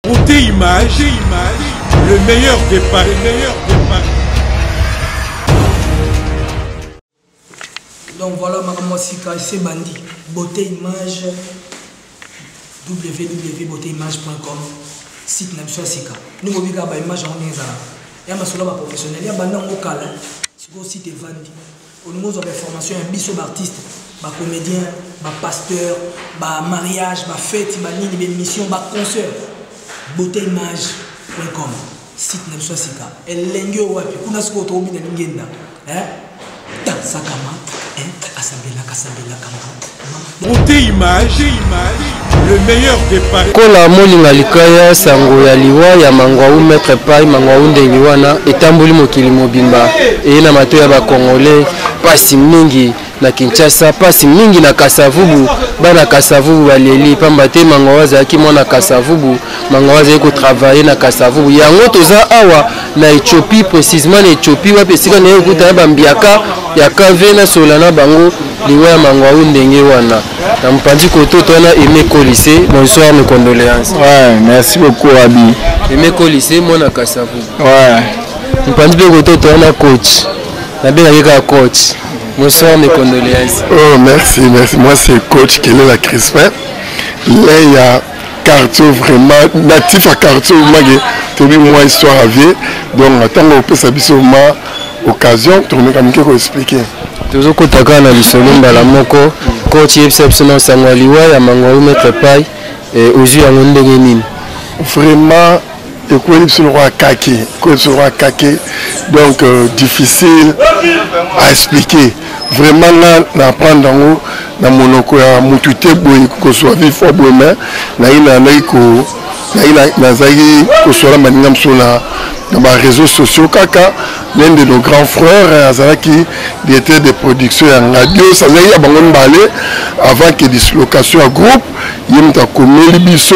Côté image, image, le meilleur départ, le meilleur départ. Donc voilà maman Sika, c'est bandit. Beauté image www.beauteimage.com site na biso ya sika ndenge obika baimage yango ndenge ezalaka ya masolo ya baprofessionnel ya banda yango kala sikoyo site evandi olingi ozwa bainformation ya biso baartiste bacomédien bapasteur bamariage bafeti banini baémission baconcert beauté image com site na biso ya sika elengi oyo wapi kuna sikoyo tokobina lingenda tasakama asambelaka asambelaka Brute image, image. Le meilleur des paris. Kola molinga likaya sango ya liwa ya mangwawu maître pai mangwawu ndenge wana etamboli mokili mobimba eye na mato ya bakongole pasi mingi na kinshasa pasi mingi na kasavubu bana kasavubu baleli pamba te mango azalaki mwana kasavubu mango azali kotravaille na kasavubu yango toza awa na ethiopie précisement na ethiopie wapi esika naye okuta na bambiaka ya kave na sola na bango liwa ya mangwawu ndenge wana na mopanzi kototo wana aime kolise bonsoir mes condoléances ouais, merci beaucoup abi aime kolise mwana kasavu ouais. mopanzi mpe kototo wana coach nabengaki kaka coach bonsoir mes condoléances oh merci merci moi c'est coach kelela crispin leya cartio vraiment natif ya cartio mage toyebi mwa histoire ya vie donc ntango opesa biso ma occasion tokomeka mike koexplike tozokotaka na lisolo mbala moko coach yebisa biso na nsango ya liwa ya mangwalu maître pai eh, ozwi yango ndenge nini vraiment ekweli biso lokola kake ekweli biso lokola kake donc euh, difficile à expliquer vraiment nga na apprendre yango na monoko ya mutu te boye kozwa vie fo boye me naye nalandaki ko naye nazalaki kosola baninga mosusu na na bareseau sociaux kaka l'un de nos grands frères euh, azalaki directeur de production ya ngadios azalaki ya bango mibale avant que dislocation ya groupe ye moto akomeli biso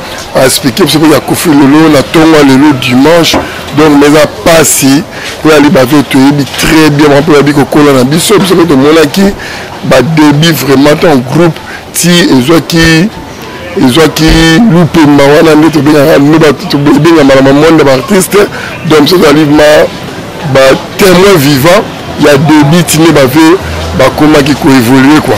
a expliquer biso mpe ya kofi lelo na ntongo ya lelo dimanche donc mais eza mpasi mpo yali bato oyo toyebi très bien bango mpe bayebi kokola na biso biso mpe tomonaki badébut vraiment ton groupe ti ezwaki ezwaki lupemba wana nde tobengaka loba ebengamaka na monde ya baartiste donc biso tozali ma ba témoin vivant ya debut tine bave bakomaki koévolue kua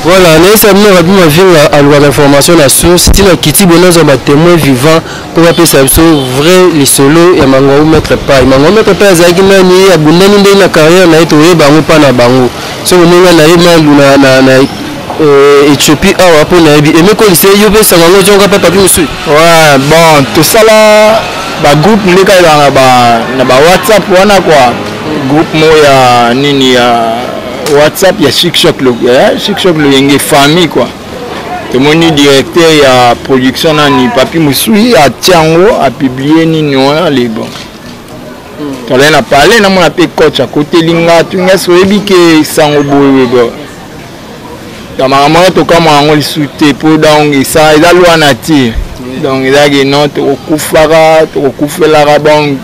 voilà nayesa bino rabi mavinga alukaka information na source ntina kiti bo nazwa ba témoin vivant mpo bapesa biso vrai lisolo ya mangwau maître pai mangwau maître pai azalaki nani ye abundani ndenge na carrière na ye toyeba yango mpa na bango soki omonga na ye malu na Euh, Ethiopie awa mpo nayebi emekolisa ye yo mpe esanga yango ozonga mpe papi mosusu ouais, bon tosala bagroupe nde kaka na ba na ba whatsapp wana kua groupe moko ya nini ya whatsapp ya chikshock eh, chikshock loyenge famille kua tomoni directeur ya production nani papi mosui atia yango apiblie nini wana lebon hmm. tolai na pale namona mpe coach akoteli nga tunga soyebi ke sango boye na makambo wana tokamwa yango lisusu te mpo donc esa eza lwa nature donc ezalaki non tokokufaka tokokufelaka donc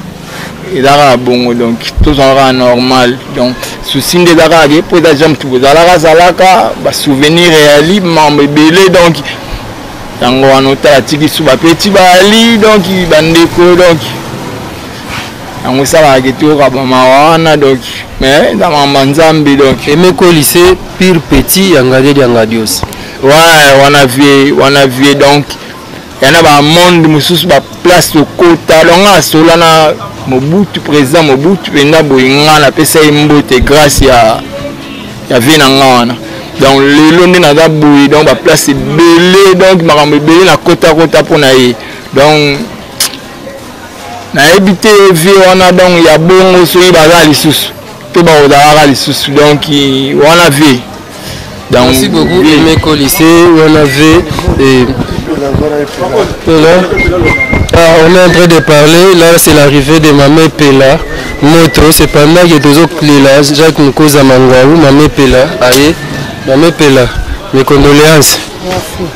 eza kaka bongo donc tozala kaka normal donc souci nde eza kaka ke mpo eza jambe tu ozalaka azalaka basouvenir ya limambo ebele donc yango wana otala tiki suba peti bali donc bandeko donc yango esalaka ke toyoka bamawa wana donc mais eza mama nzambe donc emekolise pire petit ya ngadeli ya ngadios ouais wana vie wana vie donc yana bamonde mosusu baplace tokota donc nga asola na mobutu président mobutu mpenza boye nga napesa ye mbote grâce ya ya vie na nga wana donc lelo nde naza boye donc baplace ebele donc makambo ebele nakotakota mpo na ye donc nayebi te vie wana donc ya bongo soki baza lisusu to bakozalaka lisusu donc wana vie donc merci beaucoup emeko lycée wana vie et Pela. Ah, on est en train de parler, là c'est l'arrivée de Mamé Pela, moto, c'est pendant que toujours Plela, Jacques Moukoza Mangwaou, Mamé Pela, aïe, Mamé Pela, mes condoléances. Merci.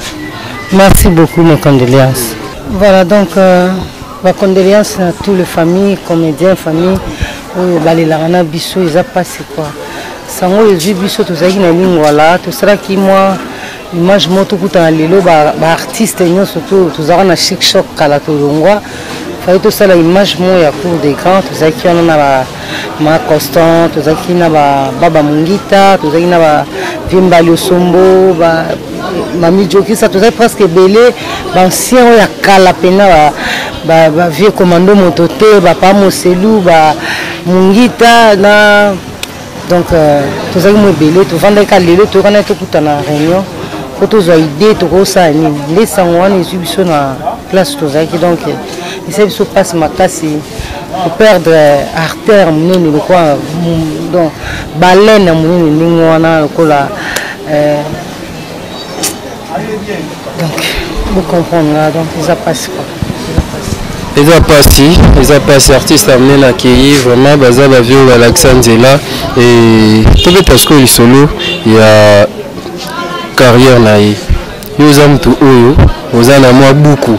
Merci beaucoup, mes condoléances. Voilà donc euh, ba condoléances na tout le famille comédien famille oyo balelaka na biso eza pasi quoi sango oyo ezwi biso tozalaki na lingwala tosalaki mwa image moko tokutana lelo baartiste ba nyonso to tozalaka na chic choc kala tolongwa fai tosala image moko ya cour de grand tozalaki wana na ma constant tozalaki na baba mongita tozalaki na ba vimba liosombo ba mami jokisa tozalaki presque ebele baancien oyo ya kala mpena bavieux commando moto te bapa moselu ba mongita na donc euh, tozalaki mo ebele tovandaki ka lelo toyokanaki tokutana réunion mpo tozwa idée tokosala nini nde sango wana ezwi biso na place tozalaki donc esali biso mpasi makasi koperdre artère monene lokola donc balene ya monene ndenge wana lokola euh, donc bocomprendre nga donc eza mpasi kaka eza mpasi eza mpasi artiste amene na kei vraiment baza bavio balakisa nzela tobeta sikoyo lisolo ya carrière na ye yo oza motu oyo oza na mwa buku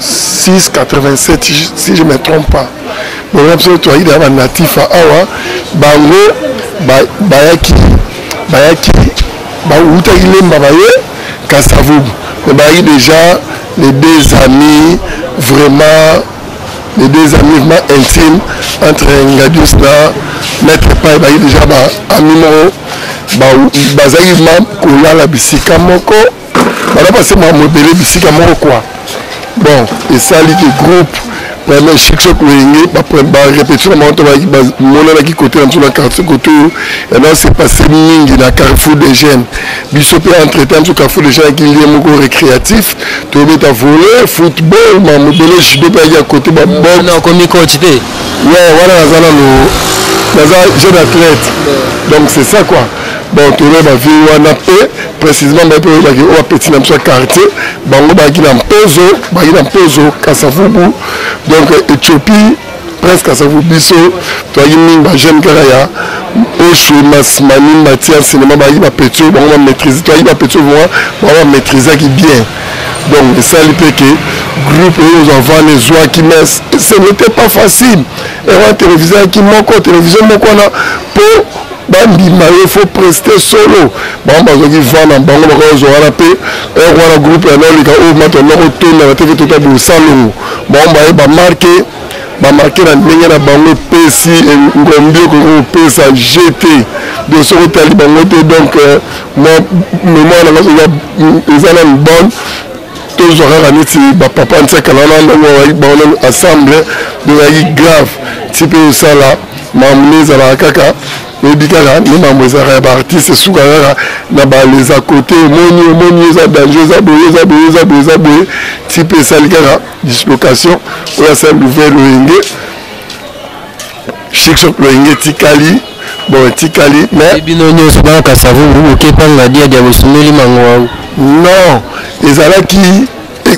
687 si je me trompe pas bolona biso toyaki na banatif awa bango bayaki bayaki bawutaki lemba baye kasavubu me bayaki déjà les deux amis vraiment les deux amis vraiment intime entre ngadius na maître pai bayaki déjà baami moko bazalaki ma kolala bisika moko bana base makambo ebele bisika moko kua bon esali ke groupe vraiment chikchok loyenge barépétition na bango to bamonanaki kote na biso na quartier kote oyo yanaa se passe mingi na carrefour des jeunes biso mpe entretemps biso carrefour des jeunes yaki lie moko récréatif tobeta volet football mamobele judo mpe yaki ya kote babokomicoach te we wana naza nano naza jeune athlète donc c'est ça quoi bon toyeba bavie wana mpe précisément baye mpe oyebaki oyo bapeti na biso ya quartier bango bayaki na mpozo bayaki na mpozo kasavubu donc ethiopie presque kasavubu biso toyaki mingi bajeune kaka ya oshu masmani matière cinéma bayaki bapeti oyo bango bamaîtrise toyaki bapeti oyo vraiment bango bamaîtrisaki bien donc esali mpe ke groupe oyo ozwa vana ezwaki mais ce n'était pas facile ewa télévision yaki moko télévision moko wana mpo bandima ye fo preste solo bango bazwaki van na bango bakozwa wana mpe heure wana groupe ya nolika oyo mato noko tondaka teke tota bosalongo bango baye bamarke bamarke na ndenge na bango epesi ngombi okoki kopesa gt de soki otali bango te donc euh, mwa memoire na ngai eza nanu bonne tozwa kaka neti bapapa ntiakala wana ndongo baonani ensemble ezalaki grave ti mpe osala Mambo nde ezalaka kaka oyebi kaka nde mambo ezalaka ya baartiste esuka kaka na bales a côté omoni omoni eza danger eza boye eza boye eza boye eza boye ti mpe esali kaka dislocation oyo asali louvert loyenge chikshop loyenge etikali bon etikali mais bino nyonso bakasa vubu okepanga dia dia bosumeli mango wangu non ezalaki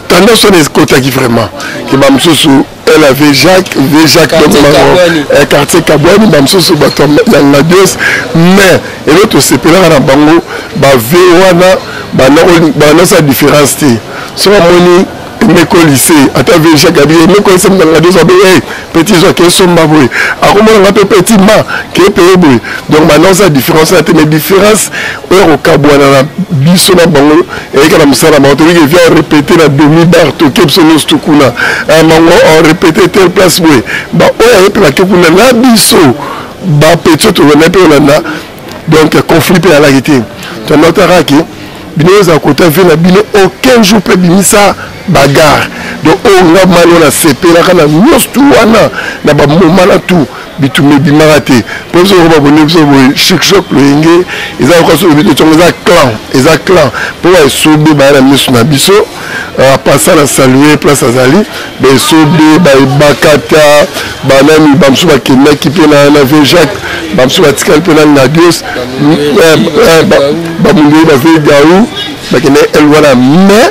tendance wana ekotaki vraiment ke bamosusu elle avait Jacques, avait Jacques quartier donc Kabwani. Eh, quartier Kabwani ba mosusu bato ya Ngadios mais elo tosepelaka na bango ba ve wana banasa différence te so bamoni emeko lycée ata ve Jacques abi emeko lycée na Ngadios abe hey, petit zwa ke somba boye akomona nga mpe petit ma ke peye boye donc banasa différence na te mais différence oya kokabwana na biso na bango eyaka na mosala bango toyiki evia orepete na demi bar toke biso nyonso tokuna bango ah, orepete tel place boye baoyo aye mpe bake kuna na biso bapetio tolanda mpe olanda donc conflit mpe alaki te tonotaka ke bino ozala kota vie na bino aucun jour mpe bimisa bagarre donc oyo nga mali oyo nasepelaka na nyonso tu wana na bamoma na tout bitumba ebimaka te mpo biso lokola babonde biso boye chikshok loyenge eza lokola so lobi totongo eza clan eza clan mpo baesobe baya na miso na biso euh, apasa na salue place azali baesobe baebakata banani bamosusu bakendaki mpe na vieux jacques bamosusu batikali mpe na ngadios bamundei bavieux gaou bakendaki elwana mais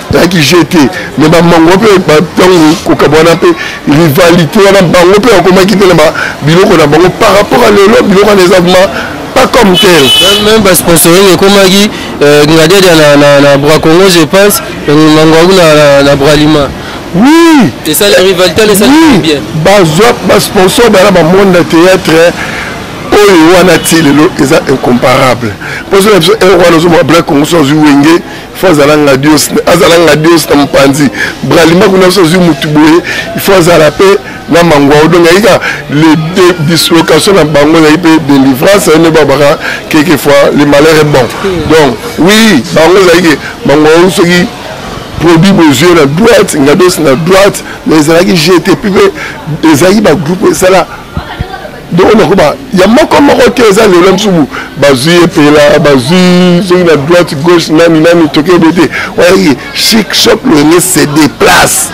ezalaki jeu te mais bamango mpe ntango kokabwana mpe rivalité wana bango mpe bakomaki mpe na biloko na bango par rapport à lelo biloko wana eza vraimen pas comme tel même basponsoring ekomaki euh, ngadiadia na, na, na bra congo je pense euh, mango yango na, na, na bra lima oui esali rivalité wana esali oui. bien bazwa basponsor bana bamonde na théâtre oyo wana ti lelo eza incomparable mposo na biso euro wana ozomwa black congo so azwi wenge fo azala ngadios azala ngadios na mopanzi bralima kuna biso azwi motu boye ifo azala mpe na mangwao donc ayaki ka dislocation na bango ezali mpe délivrance aye nde babaka keke fois le malheur est bon donc oui bango ezali ke mangwao soki produit bozwi na droite ngadios na droite mais ezalaki jete mpe ezalaki bagroupe esala donc nakoba ya moko moko te eza lelo msubu bazwi epela bazwi soki na droite gauche nani nani toke ebe te oyaki chic shop loyenge se déplace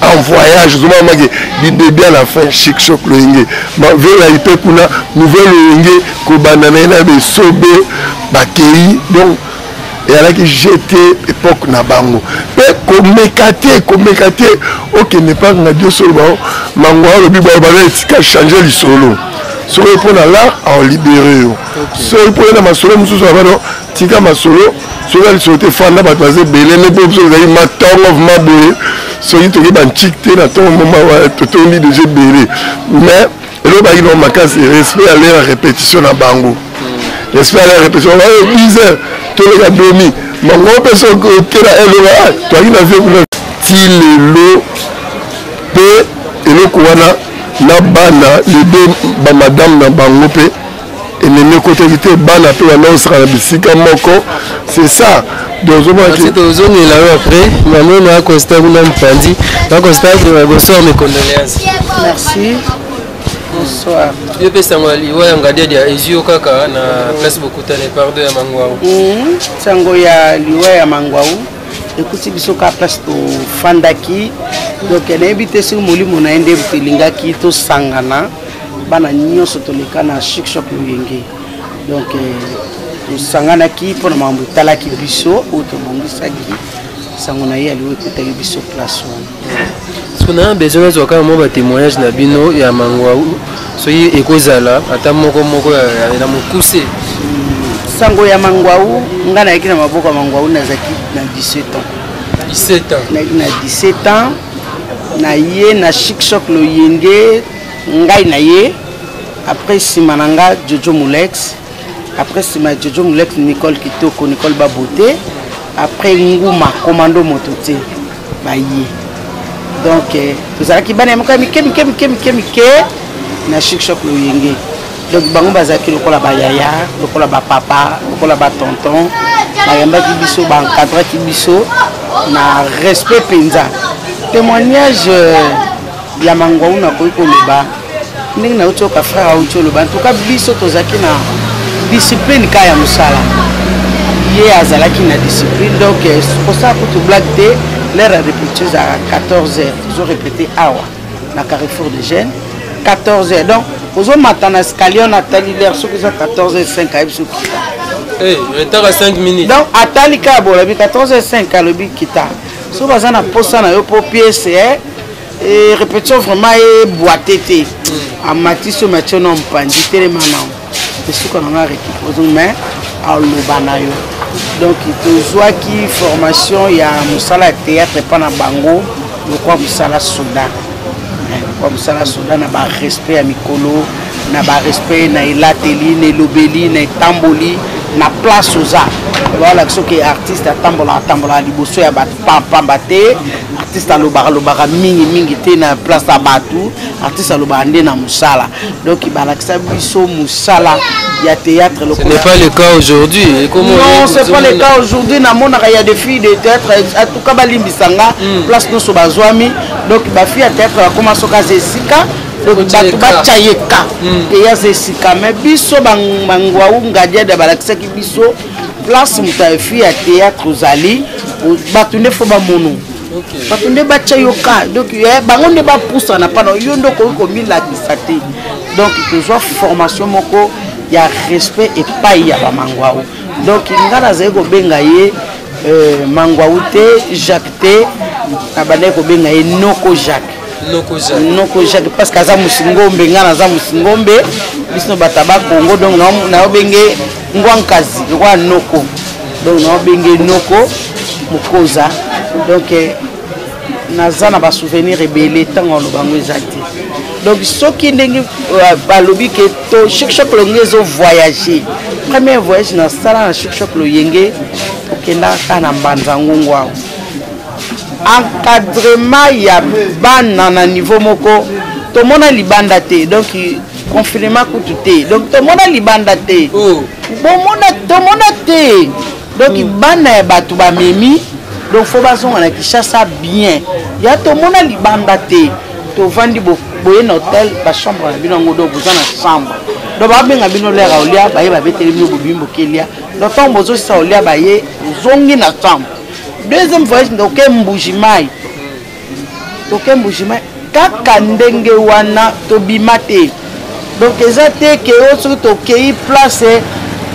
en voyage ozomona maki du début à la fin chic shop loyenge mavela ipe kuna nouvelle loyenge kobanda na ye na besobe bakei donc eyalaki gt epoque na bango mpe komeka te komeka te okende mpa ngadio solo bao mango alobi bao bana etika change lisolo soki mpo na lar aolibere yo soki mpo na masolo mosusu abano tika masolo soki ya lisolo te fanda bato baza ebele nde mpe biso ezali matongo vrima boye soki toki banchik te na ntongo moma totondi deja ebele mais elobaki no makasi respect ya lera repetition na bango hmm. respect ya lera repetition bayo 10 heures toleka domi bango mpe soki okela eloba ah, toyaki na vie kuna ti lelo mpe eloko wana na bana lebe bamadame na bango mpe elenge ekotaki te bana mpe banaosaka na bisika moko c'est ça tozongela yo après mama na acosta kuna mopanzi acosta bonsoir mes condoléances merci bonsoir yo mpe sango ya liwa ya ngadiadi ya ezio kaka na place bokutane pardo ya mangwau hmm, sango ya liwa ya mangwau ekuti biso kaka place tofandaki donc nayebi te soki molimo na ye nde elingaki tosangana bana nyonso toleka na chic shop loyenge donc tosanganaki euh, mpo na makambo etalaki biso oyo tobongisaki sango na ye aliwo ekutaki biso place wana soki na besoin nazwa kaka mwa batémoignage na bino ya mangwau soki ekozala ata moko moko na mokuse hmm, sango ya mangwau ngai nayaki na maboko ya mangwau nazalaki na 17 ans 17 ans nayaki na 17 ans na ye na chic choc loyenge ngai na ye après nsima na nga jojo molex après nsima ya jojo molex nicole kitoko nicole babote après nguma komando moto te baye donc euh, tozalaki bana ya moko ya mike mike mike mike mike na shikshok loyenge donc bango bazalaki lokola bayaya lokola bapapa lokola batonton bayambaki biso baencadraki biso na respect mpenza témoignage euh, ya mangwawu nakoki koloba ndenge nauti oka frère auti oloba ntuka biso tozalaki na discipline ka ya mosala ye azalaki na discipline donc eh, kosala kutu blague te l'heure ya repetition ezalaka 14 heures tozo repete awa na carrefour de jeune 14 heures donc ozomata na escalier na atali l'heure soki eza 14 heures 5 ayebi soki kita eh, retard ya 5 minutes donc atali kaka bolobi 14 heures 5 alobi kita soki baza na mposa na yo mpo piese eh, Eh, répétition vraiment eboite te amatisi oyo matio na mpanzi telema nango esuka na ngai récupose mais aloba na yo donc tozwaki formation ya mosala ya théâtre epa na bango lokwa mosala soda eh, lokwa mosala soda na barespect ya mikolo na barespect na elateli na elobeli na etamboli na place oza balakisa oke artiste atambola atambola liboso ya bato pamba te artiste alobaka lobaka mingi mingi te na place ya bato artiste alobaka nde na mosala donc balakisa biso mosala ya théâtre ce n'est pas le cas aujourd'hui non c'est pas le cas aujourd'hui namonaka ya des filles de théâtre en tout cas balimbisa nga hmm. place nyonso bazwami donc bafille ya théâtre bakoma soki aza esika bato batya ye ka eya aza esika mai biso bangwawu ngadiada balakisaki biso place moto afi ya théâtre ozali bato nde fo bamono bato nde batya yo ka donc eh, bango nde bapusana mpana yo nde okoki komilakisa te donc tozwa formation moko ya respect epai ya bamangwao donc ngai nazali kobenga ye euh, mangwau te jacques te nabandaki kobenga ye noko jacques noko jacques parce que aza mosingombe ngai naza mosingombe biso bato ya bakongo donc nayobenge ngwa nkazi lokola noko donc naobenge noko mokoza donc eh, naza na basouvenir ebele ntango aloba yango eza te donc soki ndenge euh, balobi ke to shikshok loyenge ezovoyage premier voyage nasala na shikshok loyenge okendaka kaka na mbanza ngongo awa encadrement ya bana na niveau moko tomona libanda te donc confirma kutu te donc tomona libanda te oh. bomona tomona te donc hmm. bana ya bato bamemi donc fo bazonga na kinshasa bien ya tomona libanda te tovandi boye na hotel bachambre na bino yango donc boza na chambre donc babenga bino lere ya olia baye babeteli bino bobimi bokelia donc ntango bozosisa olia baye ozongi na chambre deuxième voyage ndoke mbuji mai toke mbujima kaka ndenge wana tobima te donc eza te ke oyo soki tokei place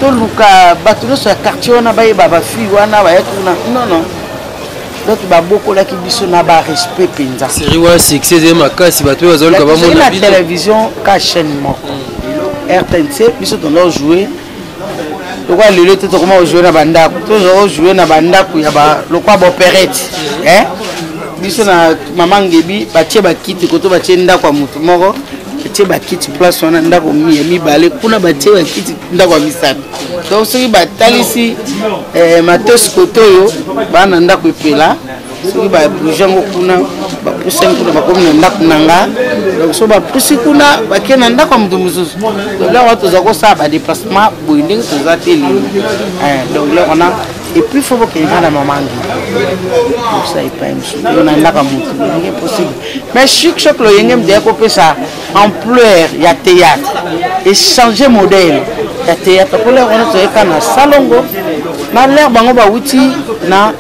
toluka bato nyonso ya quartier wana bayeba bafille wana baya tuna non non donc babokolaki biso na barespect mpenza série wana succès ezali makasi bato oyo bazoluka bamona na télévision ka chaîne moko rtnc biso tolao joue lokola lelo te tokoma kojoue na bandako tozwa kojoue na bandako ya lokola baoperete eh? biso na mama ngebi batie bakiti koto batie ndako ya moto moko batie bakiti place wana ndako ya mibale kuna batie bakiti ndako ya misato donc soki batalisi eh, matosi koto oyo bana ndako epela soki babouge yango kuna bapusi yango kuna bakomi na ndako na nga donc soki bapusi kuna bakei na ndako ya moto mosusu donc lelo wana toza kosala badeplacement boye ndenge toza te lelo eh, donc lelo wana epuis fo bokende kaka na mamangi kosa epai mosusu na ndako ya moto ndenge possible mais chik chok loyenge mdeya kopesa ampleur ya théâtre echange modèle ya théâtre mpo lelo wana toyeka na salongo na lere bango bawuti na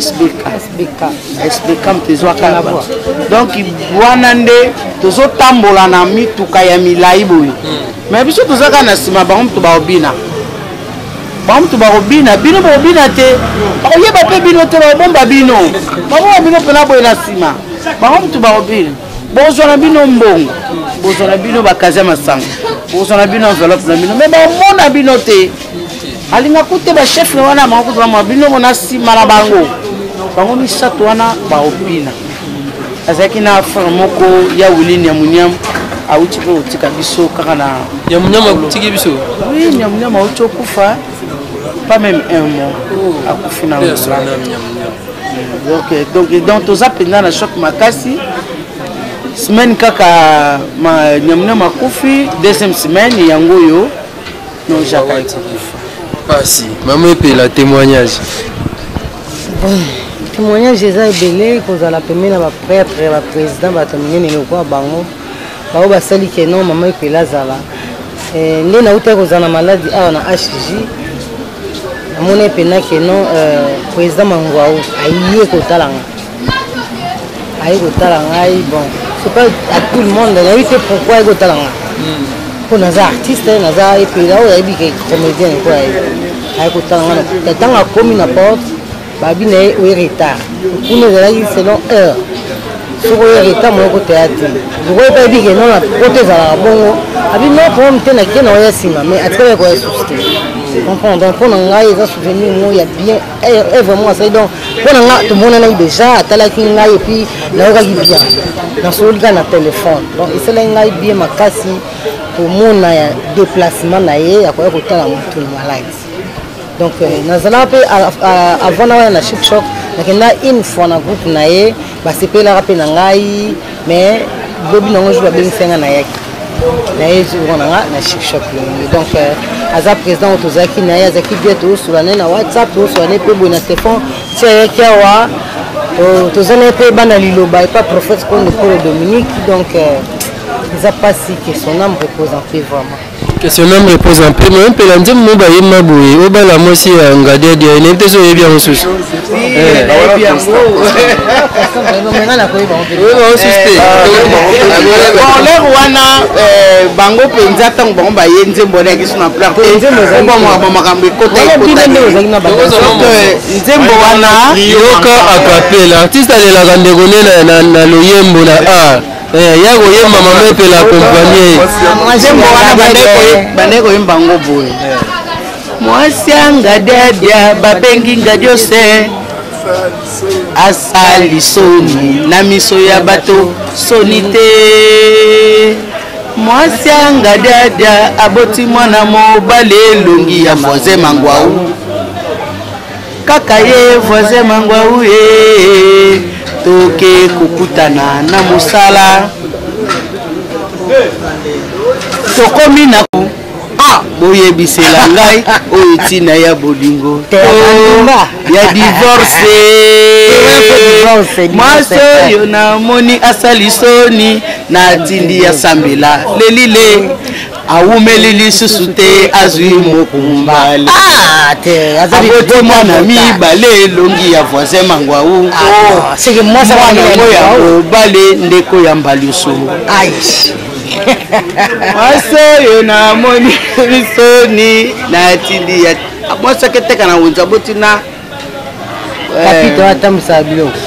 sbk sbk sbk moto ezwaka na bwa donc wana nde tozotambola na mituka ya milai boye me biso toza kaka na nsima bango moto baobina bango moto bakobina bino bakobina te bakoyeba mpe bino te bakobomba bino babomba bino mpena boye na nsima bango moto bakobina bozwa na bino mbongo bozwa na bino bakazi ya masango bozwa na bino enveloppe na bino me bamona bino te alingaka te bachefre wana bango kutu bamwa bino mona nsima na bango bango misato wana baopina azalaki na frere moko ya wili niamuniamu awuti mpe kotika biso kaka na niamuniamu akutiki biso wi niamuniamu awuti okufa pas même un mois oh. akufi na donc donc toza mpenza na choc makasi semaine kaka niamuniamu akufi deuxième semaine yango oyo non jaka ete kufa pasi mama epela témoignage témoignage eza ebele kozala pembe na baprêtre baprésident bato minene lokola bango bango basali ke non mama epela azala eh, nde nautaki kozala na maladi awa na hg namoni epena ke non eh, président mangwau aye kotalanga aye kotala ngai bon c'est pas à tout le monde nayebi te pourquoi aye kotala ngai mpo hmm. naza artiste eh, naza epela oyo ayebi ke comédien nako aye aye kotala ngai na ntango akomi na porte babi na ye oye retard kuna ezalaki selon heure soki oye retard moyoko teya te lokola epai ebi ke nona poto ezalaka bongo abi no problème te na kena oya nsima mais atikala ekoya susi te comprendre donc mpo na ngai eza souvenir moko ya bien Eh, eh, vraiment azali donc mpo na nga tomonanaki déjà atalaki ngai epuis nayokaki bien nasololi kaka na telefone donc esalaki ngai bien makasi komona ya déplacement na ye ya koya kotala motu na maladi donc euh, nazalaka mpe avant na wana na chipshop nakenda une fois na groupe na ye basepelaka mpe na ngai mais bobi nango jour babengisi ngai nayaki naye jour na nga na chicshop longi donc euh, aza président oyo tozalaki na ye azalaki bie toosula naye na whatsapp toosula naye mpe boye na stefan ti ayaki awa toza naye mpe bana liloba epa prophète kondo polo dominique donc euh, eza mpasi que son âme repose en paix vraiment Question même réponse en peu mais mpela nzembo mo bayemba boye obala mwasi ya ngadiadi ya nayebi te so oyebi yango susu bonleur wana euh, bango mpenza ntango bango baye nzembo wana yaki suna planbamaka makambo ekotanzembo wana yoka akapela artiste alelaka ndeko nena na loyembo na art Eh, ya koyemba mama epela akompanye nzembo wana bandai koyemba yango boye mwasi anga diadia babengi nga diose asali soni na miso ya bato soni te mwasi anga diadia aboti mwana mobali elongi ya moise mangwau kaka ye voisin mangwau ye toke kokutana na mosala tokomi na ah, boyebisela ngai oyo ntina ya bolingo ya divorce mwasi oyo namoni asali soni natindi ya sambela lelile awumeli lisusu te azwi mokumba ah, aboti mwana mibale elongi ya voisin mangwau ah, mwana yango ya mobale ndeko ya mbaliosongo mwasi oyo namoni misoni natindi ya mwasi aketeka na wenza boti na kapita atambwisaka biloko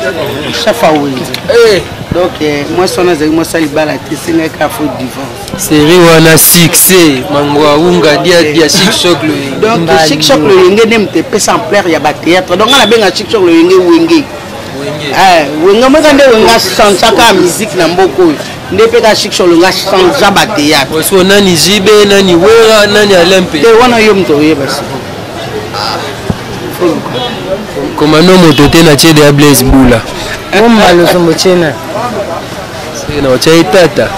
shafa wenze eh. donc eh, mwasi wana azali mwasi ya libala te esengaki kaka fo divorce seri wana succès mango awunga diadia chikshok loyenge donc chikshok loyenge nde moto epesa ampleur ya batéâtre donc nga nabenga chikshok loyenge wenge eh, wenge moka nde wenge asansaka musike na mboka oyo nde mpe ka chikshok loyenge asanza batéâtre nani jibe nani wera nani alempe te wana yo moto oyeba siko komando moto te na tiede ya blaise bula omba losombo tiena na otya ye tata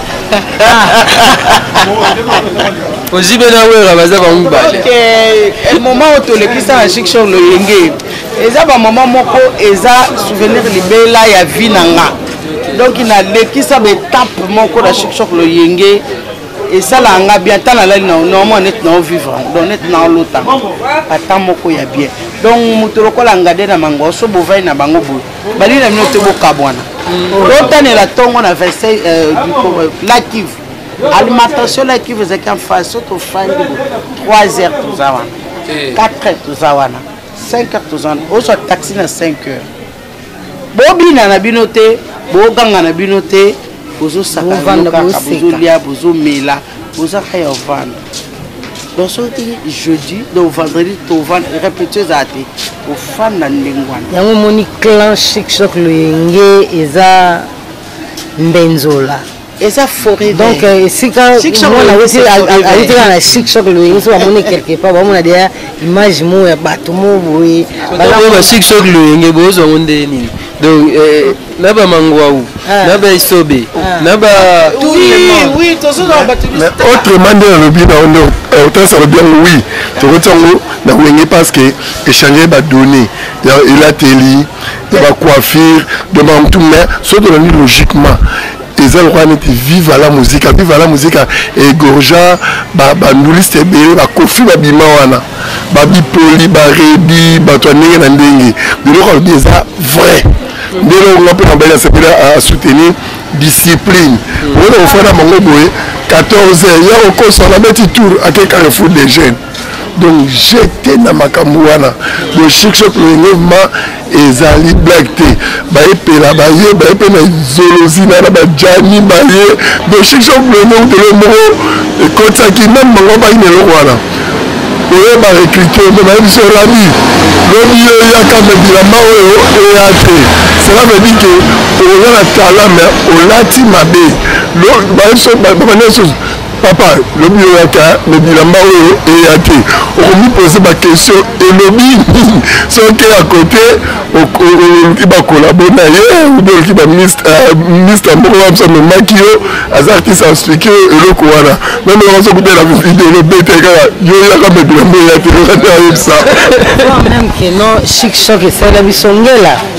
ozi mpe na wera baza bango mibale eh, moment oyo tolekisa na chiksor loyenge eza bamama moko eza souvenir libela ya vie na nga donc nalekisa baetape moko na chiksor loyenge esalaka nga bien ata nalali na normal neti nao vivre donc neti nao lota ata moko ya bien donc moto lokola ngade na mango so bovai na bango boye balingi na bino te bokabwana totanela mm. ntongo na 26 euh, euh, lakive alimentation lakive ezalaki amfai so tofandi 3 heures toza wana 4 eh. heures toza wana 5 heures toza wana ozwa taxi na 5 heures bobina na bino te boganga na bino te bozosakakaka bozolia bozomela bozaka ya ovanda donc soki jeudi donc vendredi tovanda repetio ezala te ofanda ndenge wana yango omoni clan chic choc loyenge eza mbenzola eza foret donc euh, esika mwana awuti kaka na chic choc loyenge so bamoni quelque part bamona deya image moko ya bato mo boye ba chic choc loyenge bozwa ngo nde nini donc euh, na bamangwau ah. na baisobe ah. na ba autrement nde nalobi na nde euh, otasi alobi yango wi tokotiango na wenge parce que échange badonnée elateli ya ba coiffure de bantu mais soki tolandi logiquement eza lokola neti viva la musica viva la musica egorgea banduliste ebele bakofi babima wana babipoli baredi bato ya ndenge na ndenge biloko alobi eza vrai nde eloko nga mpe nabali asepeli asoutenir discipline okoki na kofanda bango boye 14 heures ya kokosa nabeti tour ake carrefour des jeunes donc jete na makambo wana donc succès prolongement ezali blague te bayepela baye baye mpe na zolozina na bajani baye donc succès prolongement utele moko ekotisaki meme bango bayina eloko wana oyo barekrite mpe bayebisi olandi lobi yo eyaka me bilamba oyo eya te cela veut dire que oza na talent mais olati mabe bayebiso babanda lisusu Papa, lobi oyaka na bilamba oyo eya te, okomipose bakestion elobi nini soki ya kote oluki bakolabo na ye obi oluki baminista euh, moko wabisa memaki yo aza artiste asplike yo eloko wana meme okoso kutela video elobete kaka yo yaka me bilamba eya te okati ayebisa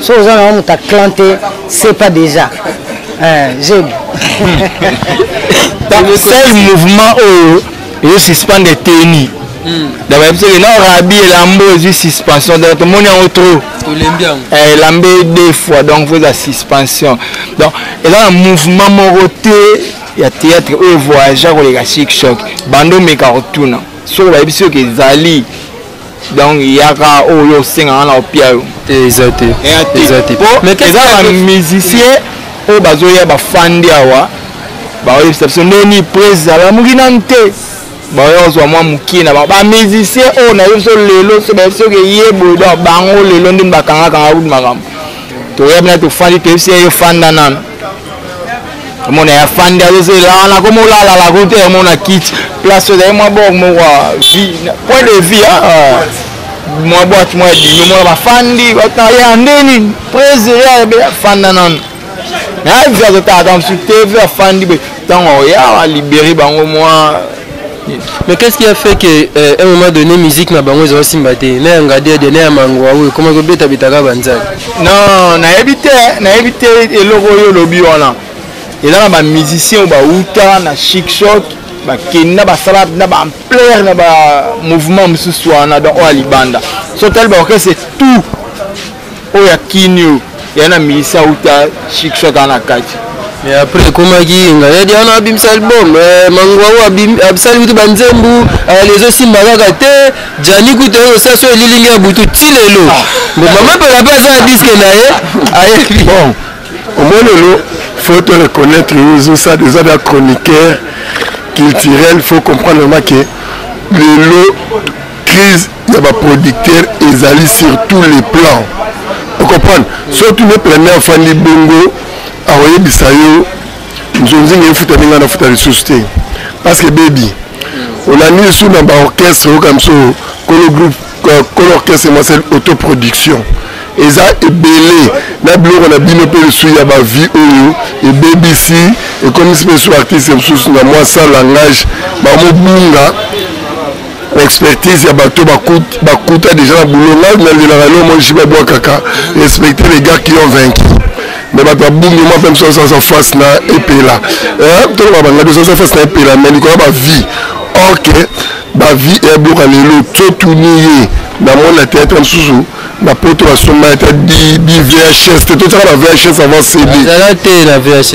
soki oza nango moto aclan te sepa déjà jebi sel mouvement oyo ezo suspendre eteni hmm. donc bayebi soki na rabi elambo ezwi suspension donc tomoni yango trop eh, elambe deux fois donc fo eza suspension donc eza na mouvement moko te ya théâtre oyo voyagea koleka chic choc bando omeka kotuna soki bayebi soki ezali donc yaka oyo yo osengaka na opia yo te eza te eza te eza bamusicien oyo bazoya bafandi awa baoyebisa biso nde nini prese alamuki nanu te baoya kozwa mwa mokie na bango bamusicien oyo nayebi biso lelo so bayebi soki eye boye donc bango lelo nde bakangakanga kutu makambo toyebi na tofandi toyebisi ye yo fanda nanu omona ya fandi azozela wana koma olalala kote omona kiti place ozali mwa bor moko point de vie ah, ah. mwa boite mwa ebimi omona bafandi bataya nde nini presere abe afanda nano mais avi azotala ta mosusu te vi afandi boye ntango oya alibere bango mwa Mais qu'est-ce qui a fait que euh, un moment donné musique na bango ezo simba te na ya ngadiade na ya mangwa oyo ekoma kobeta betaka banzai non nayebi te nayebi te eloko oyo olobi wana eza na bamusicien oyo bauta na chicshok bakenda basala na baampleur na bamouvement mosusu wana donc oyo ya libanda so tali baorchestre tout oyo ya kinio ya na milisa uta shikso ata na kati mais après ekomaki nga ya diana abimisa album eh, mangwau abisali kutu banzembu eh, ezosimba kaka te jani kutu oyo saso elilingi ya butu ti lelo ah. bo mama mpela mpe aza na diske na ye ayebi bon omoni lelo faut te reconnaître ozosa eza na chroniqueur culturel faut comprendre ma ke lelo crise ya ba producteur ezali sur tous les plans ocomprendre soki tuni eplane afandi bongo akoyebisa yo nzonzinga efutami ngai nafuta lisusu te parce que bebi olandi lisusu na baorchestre oyoka biso kolo groupe kolo orchestre masel autoproduction eza ebele na biloko na bino mpe lisusu ya bavie oyo ebebisi ekomisi mpe lisusu artiste mosusu na mwa sa langage bamobunga ba expertise ya bato bakuta déjà na boulot ngai nalelaka lelo moi jiba bwakaka respecter les gars qui ont vaincu mais bato babungi mwa mpe mosusu aza face na epela eh, toloba banga biso aza face na epela mais likolo ya bavie or ke bavie eyabiloka lelo totuni ye namoni na théâtre mosusu na poto basomba ata bvhs te totyaka na vhs avant cd te na vhs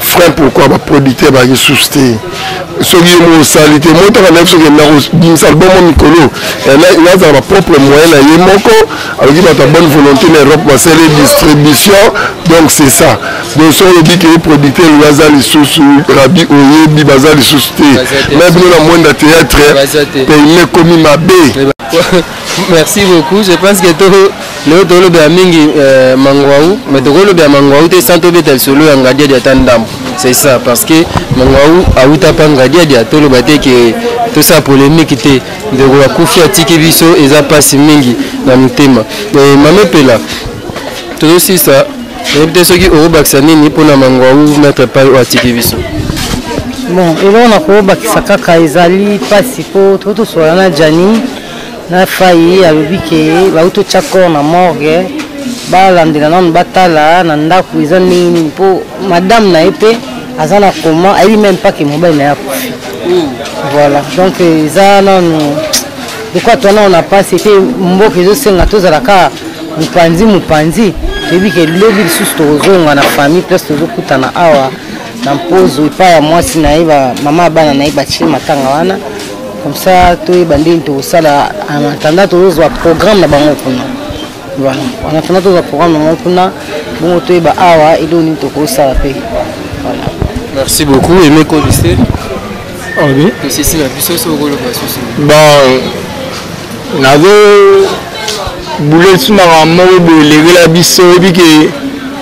frein pourquoi ba producteur bazalaki susu te soki ye moko osali te moi ntaka nayebi soki nakobimisa album o mikolo nazala bapropre moyen na ye moko aloki bato ya bonne volonté na europe basali distribution donc c'est ça donc soki olobi ke producteur oyo aza lisusu rabi oyebi baza lisusu te me bino na mwenda théâtre peyme ekomi mabe Merci beaucoup. Je pense que tout le tout le bien mingi euh, mangwaou, mais tout le bien mangwaou te santo betel solo ya ngadia dia tandam. C'est ça parce que mangwaou a uta pa ngadia dia tout le bate que tout ça polémique te de la kufi atiki biso eza pasi mingi na mutema. Mais mame pela tout aussi ça nayebi te soki okobakisa nini mpo na mangwaou maître epai oyo atiki biso bon eloko na kobakisa kaka ezali mpasi mpo totosolana na jani na fayi alobi ke bauti otya corps na morgue balandela nanu batala na ndako eza ndenge nini mpo madame na ye mpe aza na koma ayebi meme pas ke mobali na ye akufi hmm. voilà donc eza nanu lokola twana oyo na mpasi mpe mboka ezosenga tozala kaka mopanzi mopanzi toyebi ke lobi lisusu tokozonga na famille place tozokutana awa na mpozo epai ya mwasi na ye mama ya bana na ye batie matanga wana comme ça toyeba ndeni tokosala en attendant tozozwa programme na bango kuna voilà en attendant tozwa programme na bango kuna bongo toyeba awa eloko nini tokosala mpe voilà merci beaucoup aime kodise obi ah tosisi na biso soki okoloba susu bon nazo bule ti makambo moko boye elekela biso oyebi ke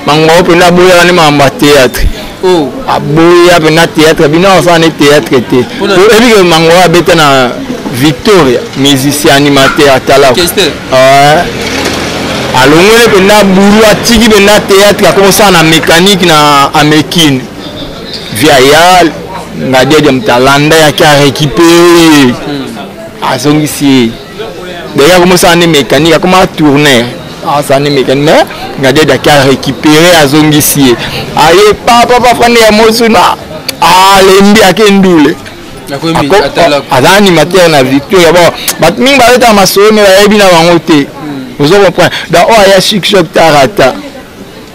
makambo mpenza boyaka nde makambo ya théâtre oh. aboya mpenza théâtre bino asala ne théâtre te oyebi ke mango abeta na victoria musicien animateur atalaka alongoli mpenza bulu atiki mpenza théâtre akokosala na mécanique na amekine via yal ngadiadia moto alanda yaki arécupere hmm. azongisi ye D'ailleurs, à commencer à une mécanique, à commencer à tourner. Ah, ça n'est mécanique, mais regardez, il a récupéré à Zongissier. Aïe, papa, papa, frère, il y a Mosuna. Ah, l'ennemi à Kendoule. aza animateur na victoria bon bato mingi bayotaka masolo me bayebi na bango te ozo comprendre donc oyo aya succès tarata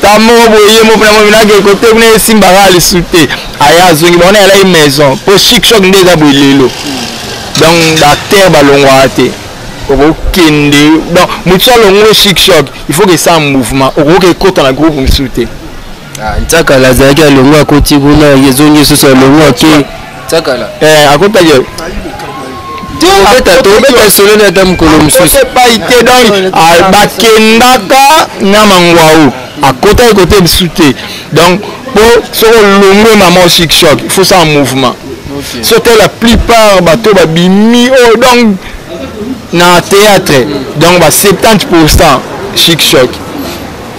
ta moko boye ye moko na moko nake kote kuna esimbaka lisu te aya azongi bango na yalaki maison mpo chic choc nde eza boye lelo donc baacteur balongwaka te okokende donc motu alongo chic choc il faut kesala mouvement okoki ekota na groupe mosusu te ah, ntakala azalaki alongo akoti kuna ezongi lisusu alongo ake Tsakala. Eh, akota gueule. tobeta solo na ata mokolo mosusu epai te donc ah, bakendaka na mangwau akotaki kote lisusu te donc mpo soki olongwe mama osik choc il faut sala mouvement soki la plupart bato babimi oyo oh, donc na théâtre donc ba 70 pourcent chic choc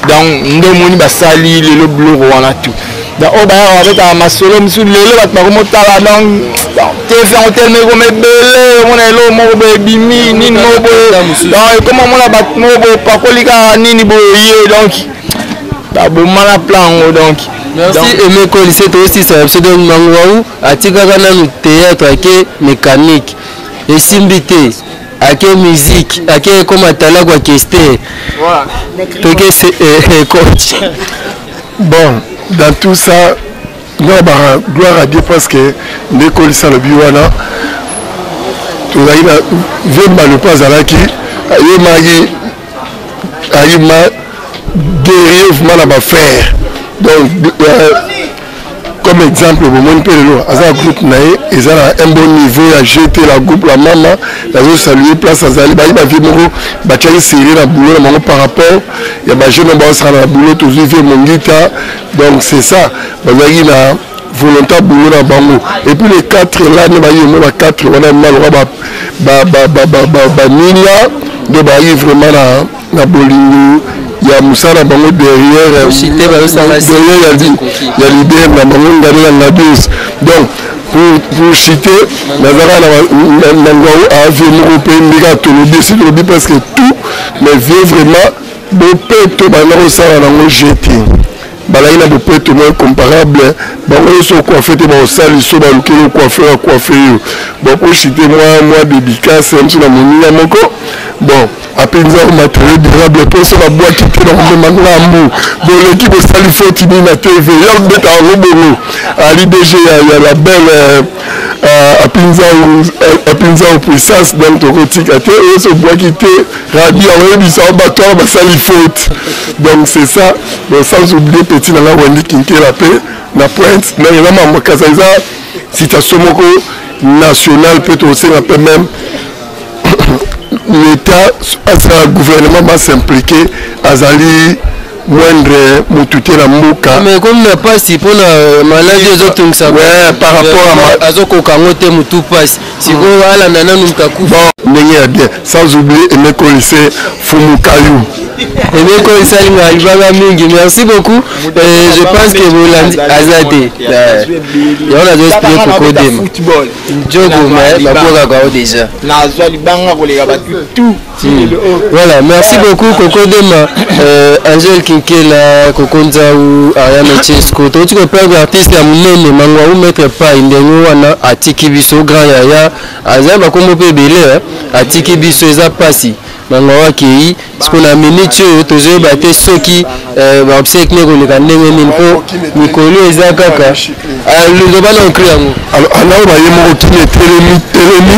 donc nde omoni basali lelo biloko wana tout donc oyo bayaka babetaka masolo mosusu lelo bato bakomotala donc tv yango telema ekoma ebele omona eloko moko boye ebimi nini moko boye donc ekoma omona bato moko boye opakoli kaka nini boye ye donc babomana plan yango donc merci aime kolise toyosisa na biso donc manguau atikaka nanu théâtre ake mécanique esimbi te ake musique ake ekoma tala kwa kester toke se eh, eh, coach bon dans tout ça nga ba gloire à dieu parce que nde ekolisa lobi wana tozalaki na vemba lopo azalaki ayemaki ayima grièvement na bafrère donc euh, comme exemple bomoni mpe lelo aza na groupe na ye eza na un bon niveau ya gt la groupe la mama nazo salue place azali bayi bavie moko batiaki serie na boulot na bango par rapport ya bajeune oyo baosala na boulot tozwi vie mongita donc c'est ça bazalaki na volonta boulot na bango et puis les quatre là ne bayi yango ba quatre wana mima loka baninga nde bayi vraiment na, na bolingo ya mosala na bango derrière ya leader na bango ngani ya ngadios donc pour citer nazalaka na ngwao ave moko mpe ndeka tolobi esi tolobi presque tout mais vie vraiment bopeto banda kosala nango jeting balaki na bopeto mo incomparable bango nyonso okuafe te baosali so balukeli okuafe akuafe yo bon pochite mwa mwa dédicace mso na moninga moko bon apenza o matériel durable mpo so babwaki te na komema ngambu boleki bosali foti nini na tv yo akobeta yango bongo ali dg ya la belle euh, euh, apinza o euh, puissance donc tokotika te oyo so obwaki te Rabi akoyebisa bato wana basali faute donc c'est ça donc sans oublier petit na nga wendi kinkela mpe na pointe donc eza mambo kasa eza situation moko nationale mpe tokosenga mpe meme l'état asala gouvernement basimplike azali moindre motu te na mboka mais comme na pasi mpona euh, maladi ezotungisa par rapport azokoka yango te motu pasi sikoyo alanda nanu moto akufa ndenge ya bien sans oublie emekolise fumukayu emekolise alinga alibanga mingi merci beaucoup euh, je pense que bolandi aza te yango nazo esplie kokodema jogo me babwakaka o déjà nazwa libanga koleka batu tout Voilà, merci beaucoup Coco Dema, euh, Angel Kinkela, Coco Nzaou, Ariane Chesco. Tout ce que peut être artiste à Moulene, Mangwa ou Maître Pai, Ndengo, Wana, Atiki Bisso, Grand Yaya, Azan, Bakomo Pebele, Atiki Bisso, Eza Passi. bango bakei siko na miniti oyo tozoyeba te soki eh, baobsek ne koleka ndenge nini mpo mikolo eza kaka ah, loba na okri yango anaoba ye moko kini etelemi telemi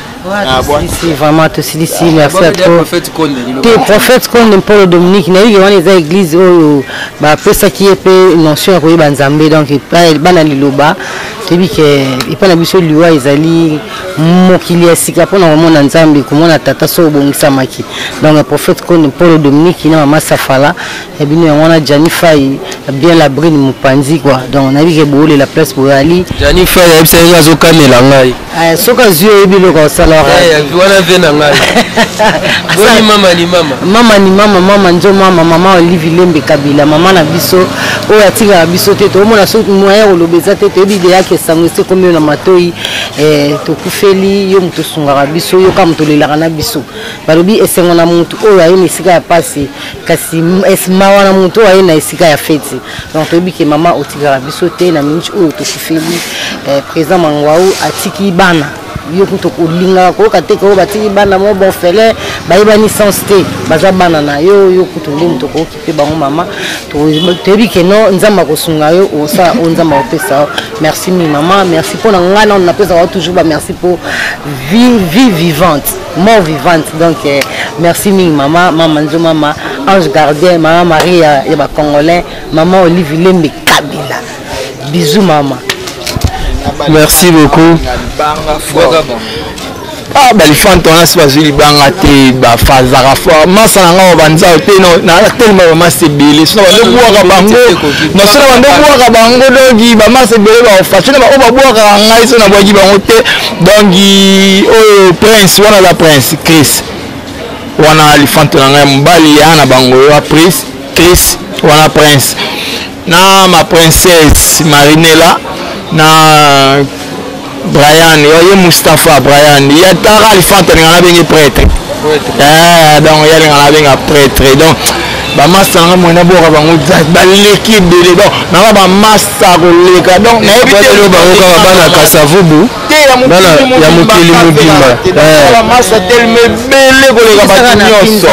Ah, si vraiment tosilisi ah, merci à trop te prophète konde mpolo dominique nayebi wana eza église oyo bapesaki ye mpe notion ya koyeba nzambe donc bana liloba toyebi ke epai na biso liwa ezali mokili ya sika mpona komona nzambe komona tata so obongisamaki donc prophète konde mpolo dominique na mama safala ya bino yango wana jani fai bien la brine mopanzi kua donc nayebi ke boolela place boyali jani fai ayebisa yenge azokanela ngai eh, soki azwi oyebi eloko asalaka eh, wana ve na ngai boni mama ni mama mama ni mama mama nzo mama mama olive lembe kabila mama na biso oyo atikaka biso te toomona soki moyen koloba eza te toyebi deyaki esango esi ekomi yo na matoi eh, tokufeli yo moto osungaka biso yoka moto olelaka na biso balobi esengo na motu oyo aye na esika ya mpasi kasi esma wana moto oyo aye na esika ya feti donc toyebi ke mama otikaka biso te na minute oyo tokufeli eh, président mangwau atiki bana yo kutu olingaka koyoka te koyo batiki bana mo bonfele bayebani sens te baza bana na yo yo kutu nde moto okokipe bango mama toyebi ke no nzambe akosunga yo osala oyo nzambe akopesa yo merci mingi mama merci mpo na ngai nano napesaka yo toujours bamerci mpo vie vivante mort vivante donc eh, merci mingi mama mama nzo mama ange gardien mama maria ya bacongolais mama olive lembe kabila bisou mama merci beaucoup ah balifante wana si bazwi libanga te bafazaka fort masa na ngai banzao te nayaka telema bamasa ebele sona bandobwaka bango nasona bandobwaka bango doki bamasa ebele baofashe na baoyo babwakaka ngai so nabwaki bango te donc oyo prince wana aza prince chris wana lifante na ngai mobali ya na bango ya prince chris wana prince na ma princesse marinela na brian ye mustapha brian ya tara lifante alinga na benge prêtre eh, donc ye alinga na benga prêtre donc bamasta nanga moye naboka bango baleki ebele donc nanga bamasta koleka donc nayebielo bango kaka bana kasavubu ya mokili mobimba bamasta eh. telema ebele koleka bato nyonso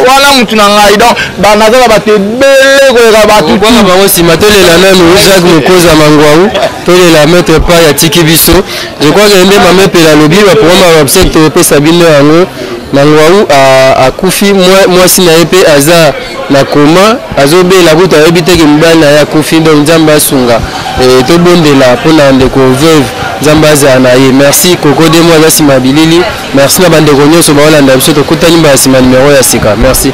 wana motu na ngai donc naza na bato ebele koleka bato bana bango nsima tolela nanu jacques mokoza mangwau tolela maître pa ya tiki biso je crois ke nde mama epela alobi baprograme ya website topesa bino yango Manguau a akufi mwasi na ye pe aza na koma azo bela kutu ayebi te ke mobali na ye akufi donc nzambe asunga eh, tobondela mpo na ndeko veuve nzambe azala na ye merci koko demo aza nsima ya bilili merci na bandeko nyonso baolanda biso tokutani mbala nsima numero ya sika merci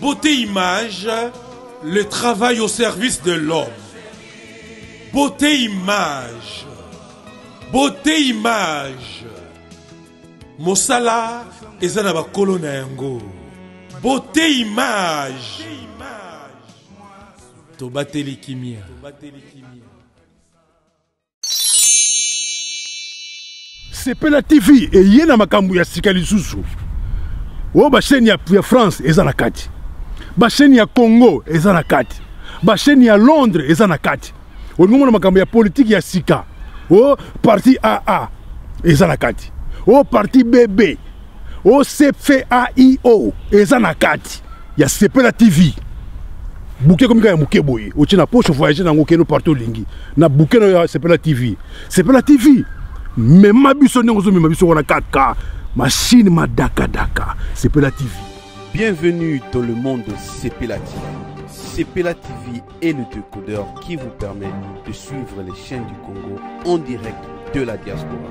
Beauté Image, le travail au service de l'homme. Beauté Image, Beauté Image, Mosala eza na bakolo na yango. Beauté Image, tobateli kimia. sepela tv eye na makambo ya sika lisusu oyo basheni ya, ya france eza na kati basheni ya congo eza na kati basheni ya londres eza na kati olingi omona makambo ya politiki ya sika o parti aa eza na kati o parti bb OCFAIO eza na kati ya Sepela TV. Bouquet comme ya muke boye, otie na poche voyager nango keno partout lingi. Na bouquet ya Sepela TV. Sepela TV. Mema biso ndenge ozo mema biso wana kaka machine madaka daka. Sepela TV. Bienvenue dans le monde de Sepela TV. Sepela TV est le décodeur qui vous permet de suivre les chaînes du Congo en direct de la diaspora.